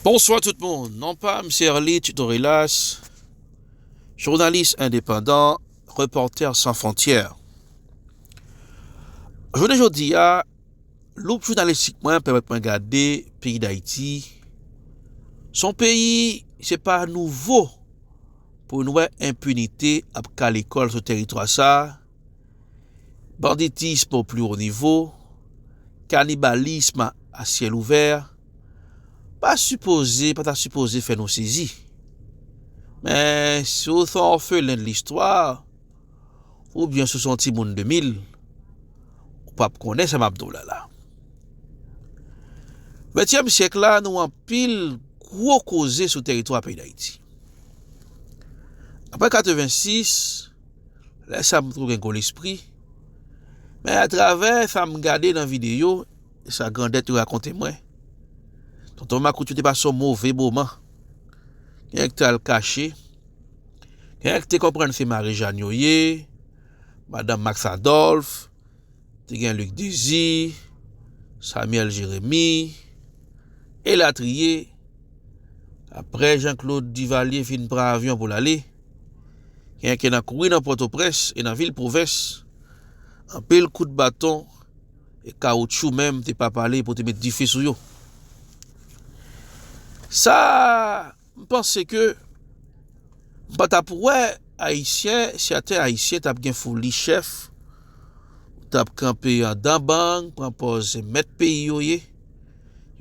Bonswa tout moun, non pa m se Erly Tutorilas, jounalis endepandan, repòtè san fontyè. Jounen jodi a, loup jounalistik mwen pèmèt mwen gade peyi Dayiti, s on peyi se pa nouvo pou n wè enpinite ap kale kò l sou teritwa sa, banditism o pli wo nivo, kanibalism a syèl ouvè, pa sipoze, pa ta sipoze fè nou sezi. Men, si w se yon òfelen de listwa, oubyen si w se yon timoun 2000, ou p ap konnen sa m ap di w la la. Ventyèm syèk la, nou anpil gwo koze sou teritwa peyi Dayiti. Aprè 86, Lè sa m twou gen gwo lespri. Men atravè sa m gade nan videyo e sa grandèt yo rakonte mwen, Tonton Makout yo te pase yon move moman. Genyen ki te al kache, genyen ki te konprann se Marijàn yo ye, Madan Maks Adòlf, te gen Lik Dezi, Samyèl Jeremi, elatriye. Apre Jan Klod Divalye fin pran avyon pou l ale. Genyen ki nan kouri nan Pòtoprens e nan vil pwovens. Anpil kout baton e kawoutchou menm te pa pale pou te met dife sou yo. Sa m panse ke m pa t ap wè Ayisyen, sèten Ayisyen t ap gen foli chèf, t ap kanpe andan bang, pran pòz se mèt peyi yo ye,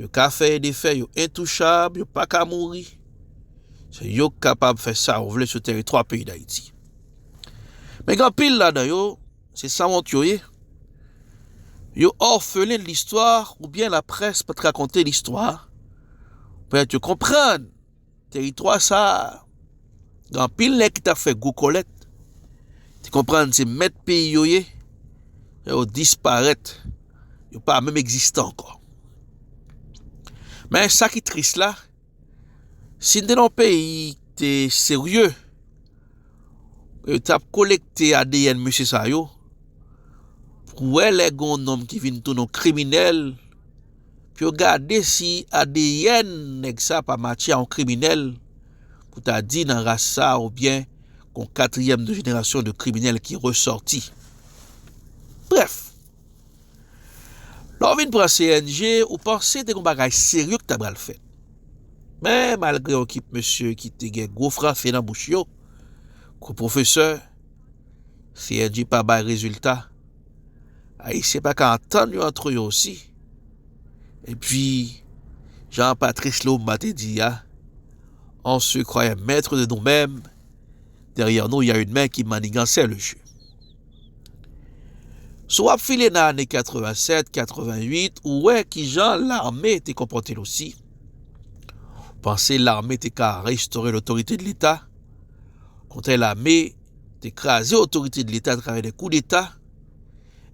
yo ka fè e defè, yo entouchab, yo pa ka mouri. Se yo k kapab fè sa yo vle sou teritwa peyi Dayiti. Men gen anpil ladan yo, se sanwont yo ye. Yo orphelin listwa oubyen laprès pa t rakonte listwa pèmèt yo konprann teritwa sa a gen anpil nèg ki t ap fè gwo kòlèt, te konprann se mèt peyi yo ye, fè yo disparèt, yo pa menm egziste ankò. Men sa ki tris la. Si n te nan yon peyi ki te serye, yo t ap kolekte adn mesye sa yo pou wè lè gen yon nonm ki vin tounen yon kriminèl pou yo gade si adn nèg sa pa matche a yon kriminèl pou ta di nan ras sa oubyen gon katriyèm de jenerasyon de kriminèl ki resòti. Brèf! Lè w vin pran CNG, ou panse te gen yon bagay serye ki ta pral fèt. Men, malgre yon kip mesye ki te gen gwo franse nan bouch yo, kou pwofesè, CNG pa bay rezilta. Ayisyen pa ka antann yo antre yo osi. Epi, jan Patrice Lumumba te di a, On se croyait maître de nous-mêmes, derrière nous il y a une main qui manigansait le jeu. Si w ap file nan ane 87, 88, ou wè ki jan lame te konpòte l osi. Ou panse lame te ka restore lotorite de leta. Kontre lame te kraze otorite de leta atravè de kou deta.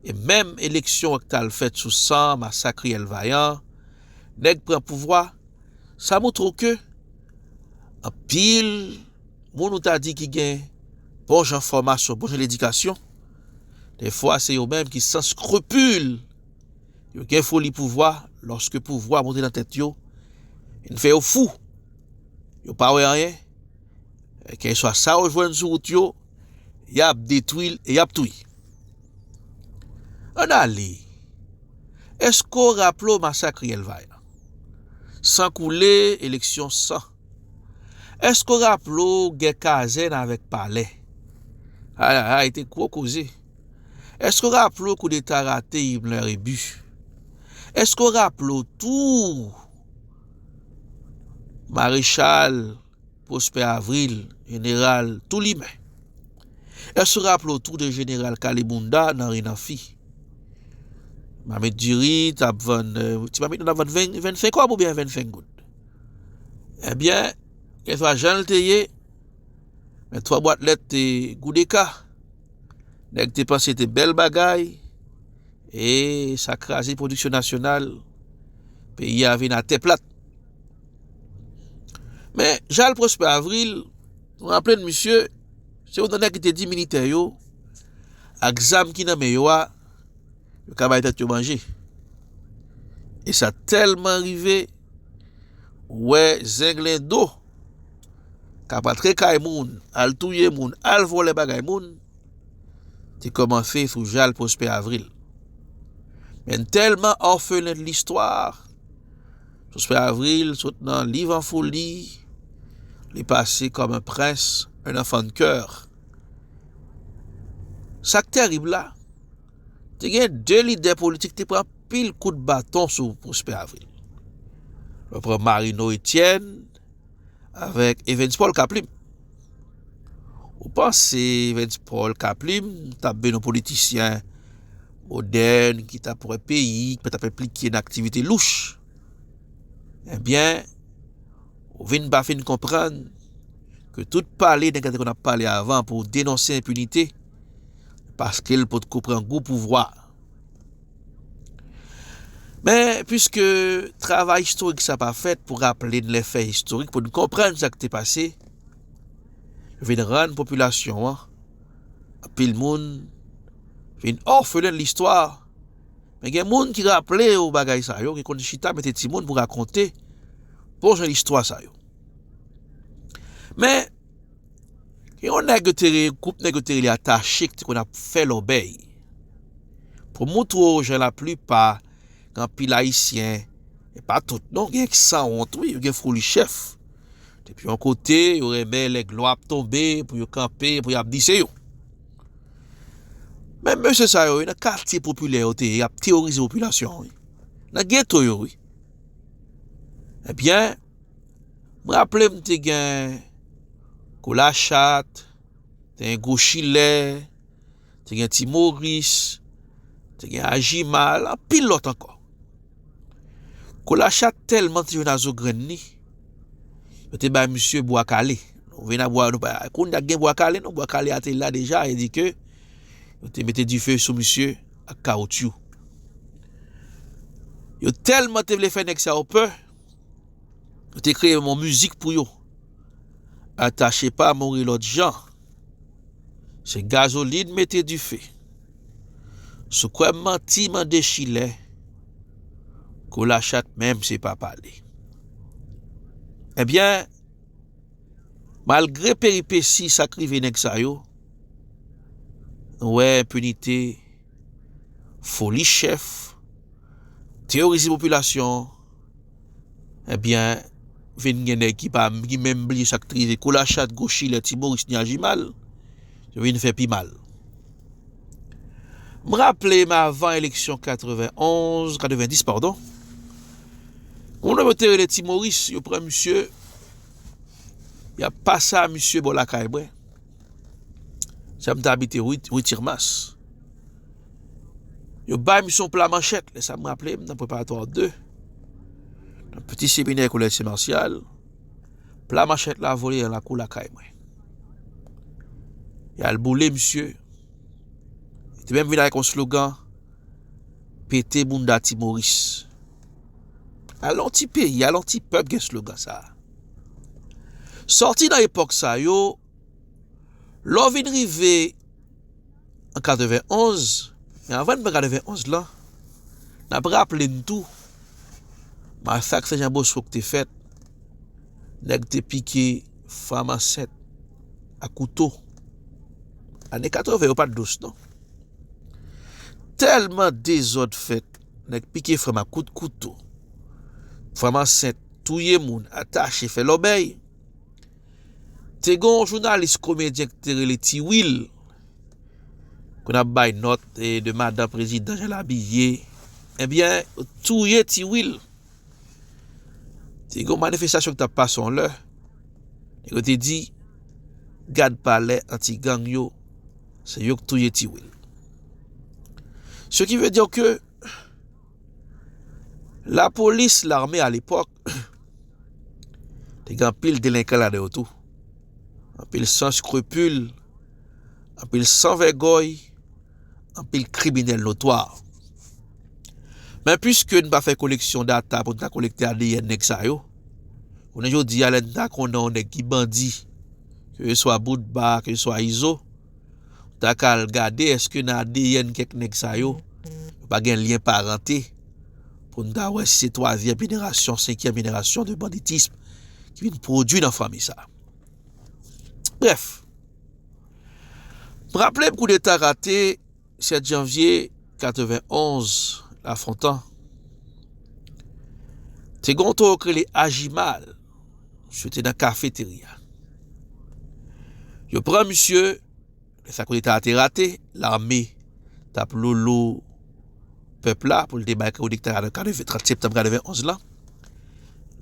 E menm eleksyon ak tal fèt sou san masak riyèl vayan, nèg pran pouvwa. Sa moutre w ke anpil. Moun ou ta di ki gen bon jan fòmasyon, bon jan ledikasyon, dèfwa se yo menm ki san skrupil, yo gen foli pouvwa, lòske pouvwa monte nan tèt yo, vin fè yo fou, yo pa wè anyen, kèlkeswa sa yo jwenn sou wout yo, y ap detwi l e y ap touye. Ann ale, èske w raple w masak Riyèl Vayan? San koule, eleksyon san. Èske w raple w gè kazèn avèk palè? Ay ay ay te gwo koze. Èske w raple w koudeta rate Himler e Bush? Èske w raple w tou Marechal Prosper Avril, Jeneral tou limen? Èske w raple w tou de Jeneral Kalebounda nan Renanfi? Mamit diri t ap vann, ti mamit nan t ap vann 25 kòb oubyen 25 goud? Ebyen, kèlkeswa jan l te ye, men twa bwat lèt te goudeka. Nèg te panse te bèl bagay, e sa kraze pwodiksyon nasyonal, peyi a vin atè plat. Men, Jal Pwospè Avril, nou raple n misye, se yon nan nèg ki te di militè yo, ak zam ki nan men yo a, Yo ka bay tèt yo manje. E sa tèlman rive, ou wè zenglendo k ap antre kay moun, al touye moun, al vòlè bagay moun, te kòmanse sou Jal Pwospè Avril. Men n tèlman orphelin de l'histoire, Pwospè Avril sot nan Liv an foli, li pase kòm un prince, un enfant de coeur. Sa k tèrib la, Te gen 2 lidè politik te pran pil kout baton sou Prospè Avril. Mwen pran Marino Etienne avèk Evens Paul Kaplim. Ou panse Evens Paul Kaplim tap vin yon politisyen modèn ki tap wè peyi, ki pa tap enplike nan aktivite louch. Ebyen, ou vin pa fin konprann ke tout pale nèg la te konn ap pale avan pou denonse enpinite, Paske l pot ko pran gou pouvwa a. Men, pwiske travay istorik sa pa fèt pou raple n lè fè istorik pou n konprann sa k te pase, yo vin rann popilasyon an, anpil moun, vin òfelen listwa. Men gen moun ki raple yo bagay sa yo, ki konn chita mete timoun pou rakonte bon jan istwa sa yo. Men. Gen yon nèg yo te rele, gwoup nèg yo te rele atache ki te konn ap fè lòbèy. Pou m montre w jan laplipa gen anpil ayisyen, e pa tout non, gen ki sanwont wi, yo gen foli chèf. Depi yon kote, yo renmen lè glwa ap tonbe pou yo kanpe, pou y ap di se yo. Menm mesye sa yo, nan katye popilè yo te ye, y ap teworize popilasyon an wi. Nan geto yo wi. Ebyen. M raple m te gen Kou Lachat, te gen Kou Chilè, te gen Ti Moris, te gen Ajimal, anpil lòt ankò. Kou Lachat tèlman te jwenn azo grenn li, yo te bay misye Bwa Kale. Nou vin ap wè nou pa konn ak gen Bwa Kale non, Bwa Kale a te la deja e di ke yo te mete dife sou misye ak kawotyou. Yo tèlman te vle fè nèg sa yo pè. Yo te kreye yon mizik pou yo. Atache pa mouri lòt jan. Se gazolin mete dife. Sou kwè m manti mande chilè. Kou lachat menm se pa pale. Ebyen, malgre peripesi sa k rive nèg sa yo, nou wè enpinite. foli chèf, teyorize popilasyon, ebyen, vin gen nèg ki pa, ki menm bliye sa k te rive Kolachat, Gochilè, Ti Moris, Nyajimal, yo vin fè pi mal. M raple m avan eleksyon 91, 90 padon, yon nonm yo te rele Ti Moris, yo pran misye, y ap pase a misye bò lakay mwen. Sa m te abite Rue Tirmas. Yo bay misyon pla manchèt. Lè sa m raple m nan preparatwa 2. Nan piti seminè kolèj se Marsyal. Pla manchèt la vole yon lakou lakay mwen. Y al boule misye. Yo te menm vin ak yon slogan. Pete bounda ti Moris. A lon ti peyi, a lon ti pèp gen slogan sa. Soti nan epòk sa yo. Lè w vin rive an 91, men anvan n pran 91 lan, n ap raple n tou masak Sen Jan Bosco ki te fèt, nèg te pike fanm ansent a kouto. Ane 80 yo pa t dous non. Tèlman dezòd fèt, nèg pike fanm a kout kouto, fanm ansent touye moun, atache, fè lòbèy, Te gen yon jounalis komedyen ki te rele Ti Wil konn ap bay nòt de madan prezidan jan l abiye ebyen yo touye Ti Wil te gen yon manifestasyon ki t ap pase yon lè nèg yo te di gad palè anti gang yo se yo ki touye Ti Wil se ki vle di ke lapolis lame alepòk Te gen anpil delenkan ladan yo tou. Anpil san skrupil, anpil san vègòy, anpil kriminèl notwa. Men pwiske n pa fè koleksyon data pou n ta kolekte ADN nèg sa yo, konnen jodi a lè n ta konnen yon nèg ki bandi, ke se swa Boutba, ke se swa Izo, nou ta ka al gade èske nan ADN kèk nèg sa yo, yo pa gen lyen parante. Pou n ta wè si se twazyèm jenerasyon, senkyèm jenerasyon de banditism ki vin pwodui nan fanmi sa. Brèf, m raple m koudeta rate 7 janvye 91 Lafontan, te gon towo k rele Ajimal, misye te nan kafeterya. Yo pran misye. Men sa koudeta a te rate, lame t ap lolo pèp la pou l te bay koudeta a nan 30 septanm 91 lan.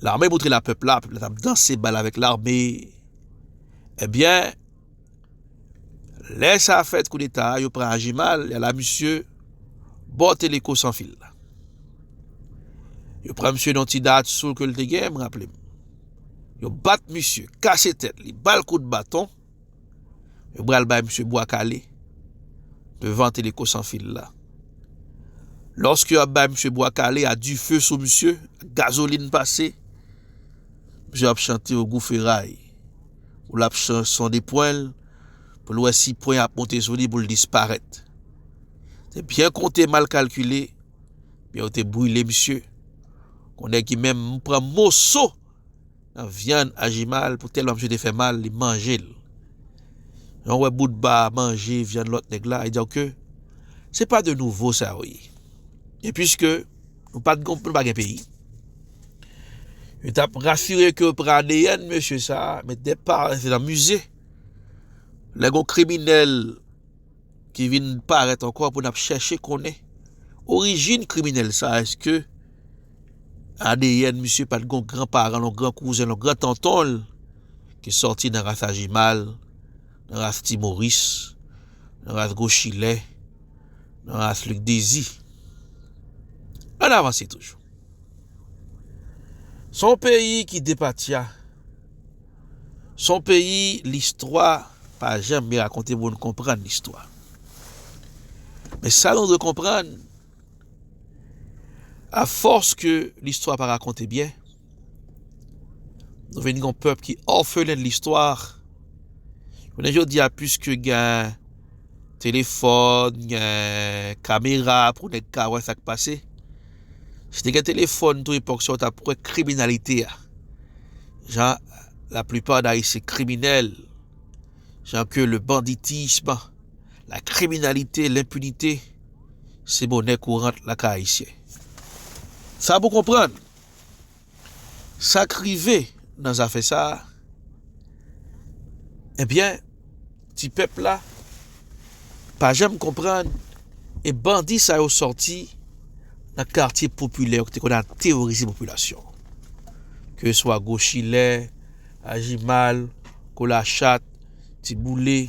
Lame moutre la pèp la, pèp la t ap danse bal avèk lame. Ebyen, eh lè sa fèt koudeta a, yo pran ajimal, ya la misye bò teleko san fil la. Yo pran misye nan ti dat sou ke l te gen, m raple m. Yo bat misye, kase tèt li, bal kout baton. Yo bral bay misye bwa kale devan teleko san fil la. Lòske yo ap bay misye bwa kale a dife sou misye, gazolin pase, misye ap chante o gou feray. Pou l ap sonde pwen l, pou l wè si pwen ap monte sou li pou l disparèt. Se byen konte mal kalkile, men yo te brile misye. Kon nèg ki menm pran moso. Vyann aji mal pou tèlman misye te fè mal li manje l. Jan w wè Boutba manje vyann lòt nèg la, e donk ke se pa de nouvo sa yo ye. E piske nou pa t gon, nou pa gen peyi, yo t ap rasire ke yo pran adn mesye sa a, mete nan mize. Lè gon kriminèl. ki vin parèt ankò pou nap chèche konnen orijin kriminèl sa eske adn misye pat gon gran paranl yon gran kouzen yon gran tontonl ki sòti nan ras ajimal nan ras ti moris nan ras gwo chilè nan ras lik dezi ann avanse toujou son peyi ki depatya Son peyi listwa pa janm byen rakonte moun konprann listwa. Men sa nou dwe konprann, a fòs ke listwa pa rakonte byen, nou vin yon pèp ki òfelen listwa, jounen jodi a pwiske gen telefòn, gen kamera pou nèg ka wè sak pase, Si te gen telefòn tou epòk sa ou tap wè kriminalite a. Jan la plupart d'haïtiens kriminèl, jan ke le banditisme, la kriminalite, l'impunite se monè kourant lakay ayisyen. Sa pou konprann. Sa k rive nan zafè sa a? Ebyen, ti pèp la pa janm konprann e bandi sa yo sòti nan katye popilè yo ki te konn al teworize popilasyon an. Keswa Gochilè, Ajimal, Kolachat, Tiboule,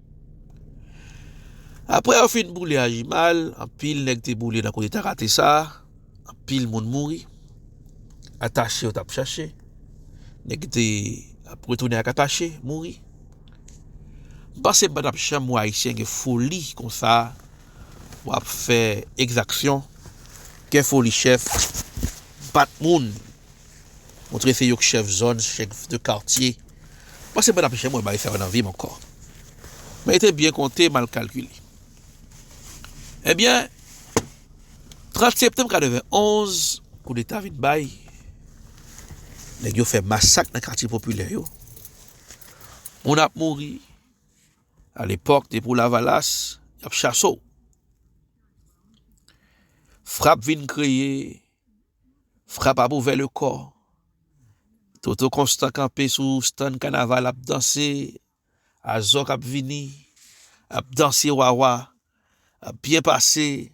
Aprè yo fin boule Ajimal, anpil nèg te boule nan kote Takate sa, anpil moun mouri, Atache yo tap chache, nèg ki te ap retounen ak Atache mouri. M panse m patap janm wè Ayisyen gen foli konsa pou ap fè ekzaksyon, gen foli chèf, bat moun. Mwen trese yo k chèf zòn, chèf de kartye. Mwen se bann apche mwen bay sa yo nan vi m ankò. Mwen rete byen konte, mal kalkile. Ebyen, 30 septanm 91, koudeta vin bay, nèg yo fè masak nan katye popilè yo, moun ap mouri, alepòk depi w lavalas, y ap chase w. Frap vin kreye. Frap ap ouvè le kò. Toto konstan kanpe sou stann kanaval ap danse Azòk ap vini ap danse Wawa ap byen pase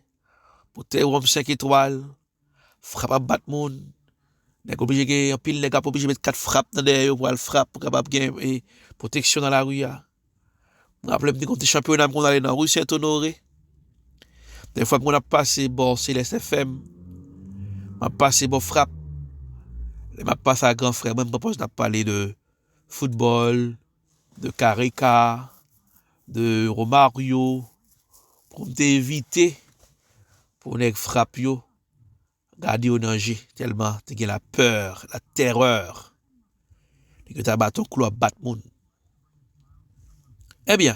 Boutèy wonm 5 etwal Frap ap bat moun Nèg oblije gen anpil nèg ap oblije met kat frap nan dèyè yo pou al frap pou kapab gen pwoteksyon nan lari a. M raple m te konn ti chanpyona m konn ale nan rue Saint Honoré. Dè fwa m konn ap pase bò Céleste FM, m ap pase bò Frap. Lè m ap pase a gran frè mwen m pran pòz n ap pale de foutbòl, de kareka, de Romario pou m te evite pou nèg Frap yo. Gade yo nan je tèlman te gen la peur, la terreur. Nèg yo ta baton klou ap bat moun. Ebyen,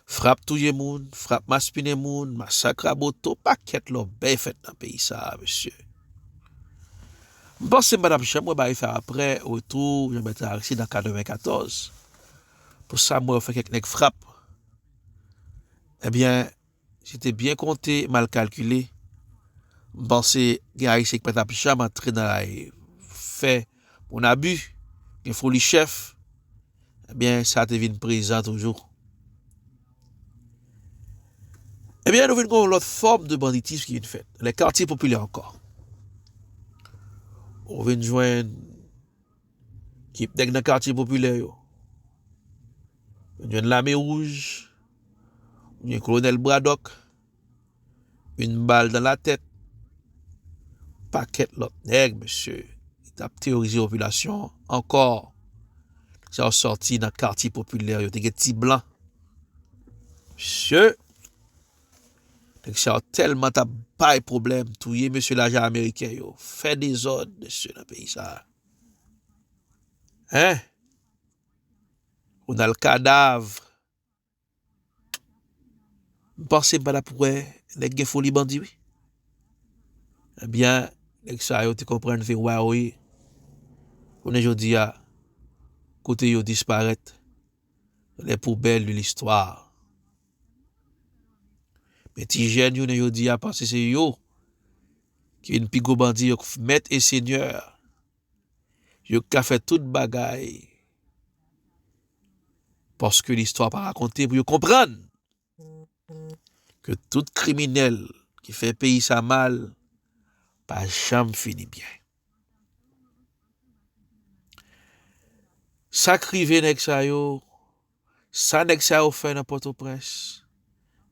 frap touye moun, frap maspinen moun, masak raboto, pakèt lòbèy fèt nan peyi sa a mesye. M panse m pa t ap janm wè bagay sa aprè retou Jean-Bertrand Aristide an 94. Pou sa m wè yo fè kèk nèg frap, ebyen. Si te byen konte, mal kalkile, m panse gen Ayisyen ki pa t ap janm antre nan la ri fè moun abi, gen foli chèf, ebyen sa te vin prezan toujou. Ebyen nou vin gen yon lòt fòm de banditism ki vin fèt, lè katye popilè ankò. Ou vin jwenn. Kip nèg nan katye popilè yo. Ou jwenn lame wouj. Ou jwenn kolonèl Bradòk. Yn bal dan latèt. Pakèt lòt nèg mesye. Ki tap teyorize popilasyon an. Ankò. Nèg sa yo sòti nan katye popilè yo. Te gen ti blan. Mesye. Nèg sa yo tèlman tap bay pwoblèm. Touye mesye lajan ameriken yo. Fè dezòd mesye nan peyi sa a. Hein Ronald kadav M panse m pa tap wè nèg gen foli bandi wi Ebyen nèg sa yo te konprann se wa yo ye Kounye jodi a kote yo disparèt les poubelles de l'histoire Men ti jèn jounen jodi a panse se yo Youn pi gwo bandi yo k mèt e senyè yo k ka fè tout bagay paske listwa pa rakonte pou yo konprann ke tout kriminèl ki fè peyi sa mal pa janm fini byen sak rive nèg sa yo Sa nèg sa yo fè nan pòtoprens,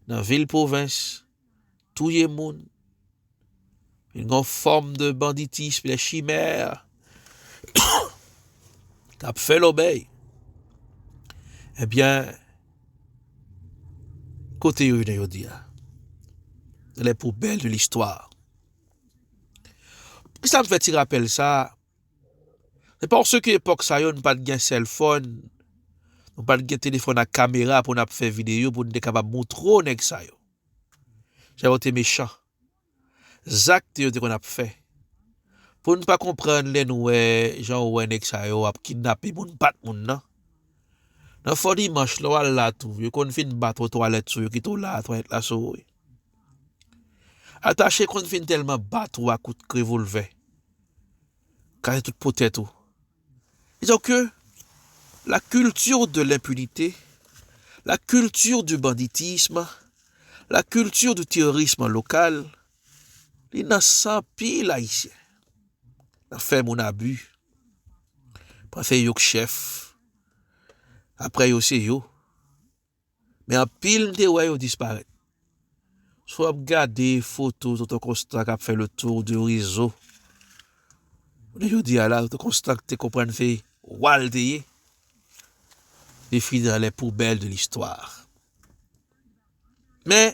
nan vil pwovens, touye moun, vin gon fòm de banditism, de chimèr kap fè lòbèy, ebyen kote yo jounen jodi a? Nan lè poubèl de listwa. Poukisa m fè ti rapèl sa? Se paske epòk sa yo nou pa t gen sèlfòn, nou pa t gen telefòn ak kamera pou n ap fè videyo pou n te kapab moutre w nèg sa yo jan yo te mechan, zak yo te konn ap fè. Pou n pa konprann lè nou wè jan ou wè nèg sa yo ap kidnape moun pa t moun nan. Nan Fò Dimanch lè w al la tou, yo konn fin bat ou twalèt sou yo kite w la a twalèt la sou ou wi. Atache konn fin tèlman bat ou a kout revolvè. Kale tout po tèt ou. Disons que la culture de l'impunité, la culture du banditisme, la culture du terrorisme local, li nan san pil Ayisyen. Nan fè moun abi. Panse yo k chèf. Aprè yo se yo. Men anpil m te wè yo disparèt. Si w ap gade foto tonton konstan k ap fè le tour de rezo jounen jodi a la tonton konstan k te konprann se wa l te ye li fini nan lè poubèl de listwa men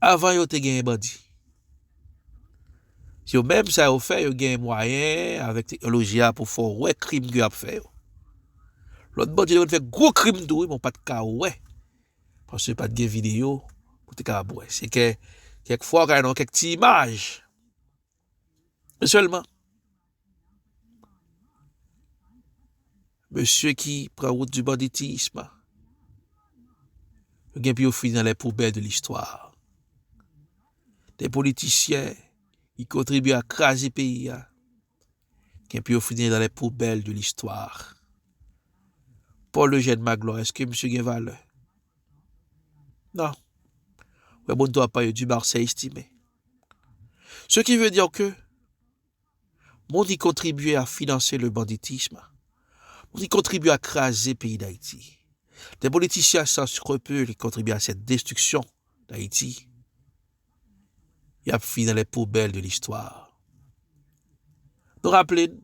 Avan yo te genyen bandi. Se yo menm sa yo fè yo genyen mwayen avèk teknoloji a pou fè w wè krim ke y ap fè yo. Lòt bandi te konn fè gwo krim tou wi men w pa t ka wè paske pa t gen videyo pou te kapab wè. Se kè kèk fwa w ka wè nan kèk ti imaj. Sèlman, mesye ki pran wout di banditism, yo gen pou yo fini nan lè poubèl de listwa. De politisyen ki kontribye a kraze peyi a, gen pou yo fini nan lè poubèl de listwa. Paul Eugène Magloire, eske misye gen valè? Non. Mwen moun to apan yo di Marseille estimé. Ce qui veut dire que moun ki kontribye a finanse le banditism, moun ki kontribye a kraze peyi d'Ayiti, des politiciens sans scrupules ki kontribye a cette destruction d'Ayiti, y ap fini nan les poubelles de l'histoire. Nou raple n,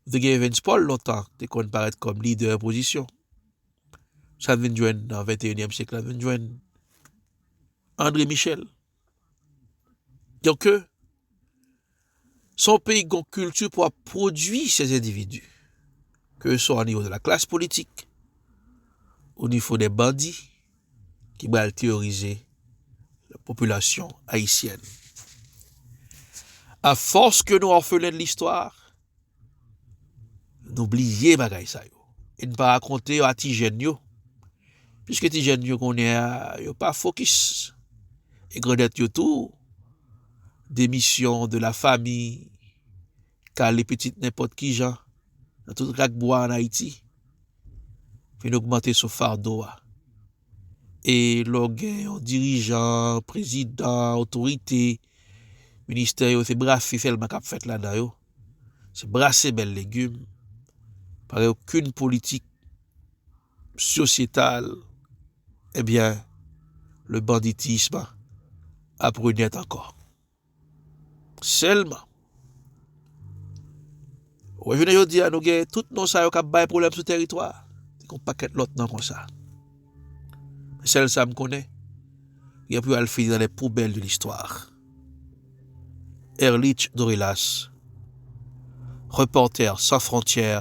Nou te gen Evens Paul lontan te konn parèt kòm lidè opozisyon. Sa n vin jwenn nan 21 èm syèk la vin jwenn André Michel. Donk euh, son peyi gon kilti pou ap pwodui se endividu. Ke swa o nivo de la klas politik, o nivo de bandi, ki bal teyorize popilasyon ayisyèn. A fòs ke nou orphelin de l'histoire, nou bliye bagay sa yo. E n pa rakonte yo a ti jèn yo. Piske ti jèn yo konnen a, yo pa fokis. E grandèt yo tou, demisyon de la fami, Kale pitit nenpòt ki jan nan tout rak bwa an Ayiti vin ogmante sou fado a. E lè w gen yon dirijan, prezidan, otorite, ministè yo se brase sèlman k ap fèt ladan yo, se brase bèl legim, pa gen okenn politik sosyetal, ebyen le banditisme ap renèt ankò. Selman. Wè jounen jodi a nou gen tout non sa yo kap bay pwoblèm sou teritwa a. Gen yon pakèt lòt non konsa. Men sèl sa m konnen, gen pou yo al fini nan les poubelles de l'histoire. Erlich Dorilas, Reporters sans frontières.